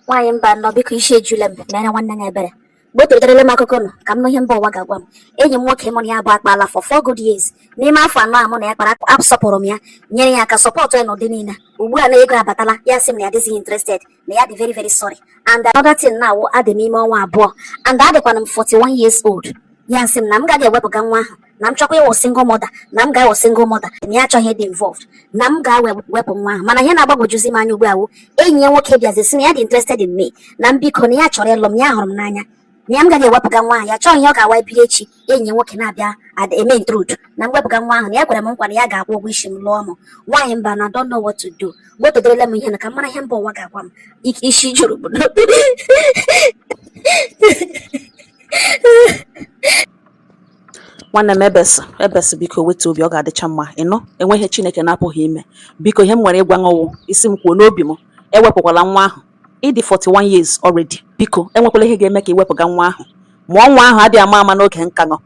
nwaanyị mbano biko isi ejula m mere nwanne ya ebere gbọtọterele m akụkọ nụ ka m nụ ihe mba ụwa ga-agwa m enyi m nwoke mụ na ya abụọ akpaala for four good years n'ime afọ anọ a mụ na ya kpara asọpụrụ m ya nyere ya aka support ya n'ụdị niile ugbu a na ego abatala ya sị m na ya adịzighị interested na ya dị very very sorry and another thing now adị m ime ọnwa abụọ and adịkwana m 41 years old ya sị m na m gaa wepụga nwa ahụ na m chọọkwa ịwụ single mother na m ga-awụ single mother na ya achọghị ịdị involved na m gaa wepụ nwa ahụ mana ihe na-agbagwojuzi m anya ugbu a wụ enyi ya nwoke bịazi sị na ya dị interested in me na m biko na ya chọrọ ịlụ m ya hụrụ m n'anya na ya m gaa wepụga nwa ahụ ya achọghị ihe ọ ga-awụ ebiri echi enyi ya nwoke na-abịa ada eme intrude na m wepụga nwa ahụ na ya kwere m nkwa na ya ga-akwụ ụgwọ isi m lụọ m nwaanyị mbano i don't know what to do gbotodorela m ihe na ka m mara ihe mba ụwa ga-agwa m isi juru m nwanne m ebesị ebesị biko wetu obi ọ ga-adịcha mma ị nụ enweghị ihe chineke na-apụghị ime biko ihe m nwere ịgwa ṅụ wụ ị sị m kwuo n'obi m ewepụkwala nwa ahụ ị dị 41 years already biko enwekwala ihe ga-eme ka i wepụga nwa ahụ mụọ nwa ahụ adịghị ama ama n'oge nka ṅụ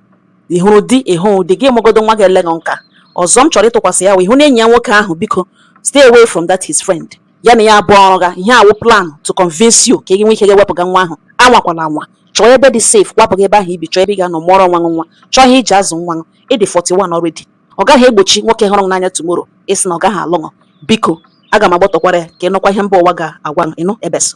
ị hụrụ di ị hụrụ di gị mụgodo nwa ga-ele ṅụ nka ọzọ m chọrọ ịtụkwasị ya wụ ị hụna enyi ya nwoke ahụ biko stay away from that his friend ya na ya abụọ rụga ihe a wụ plan to convince you ka ị nwee ike gaa wepụga nwa ahụ anwakwala anwa chọọ ebe dị safe kwapụga ebe ahụ i bi chọọ ebe ị ga-anọ mụọrọ onwe ṅụ nwa chọọ ihe i ji azụ nwa ị dị 41 already ọ gaghị egbochi nwoke hụrụ n'anya tomorrow ịsị na ọ gaghị alụ biko aga m agbọtọkwara ya ka ị nụkwa ihe mba ụwa ga-agwa ị nụ ebes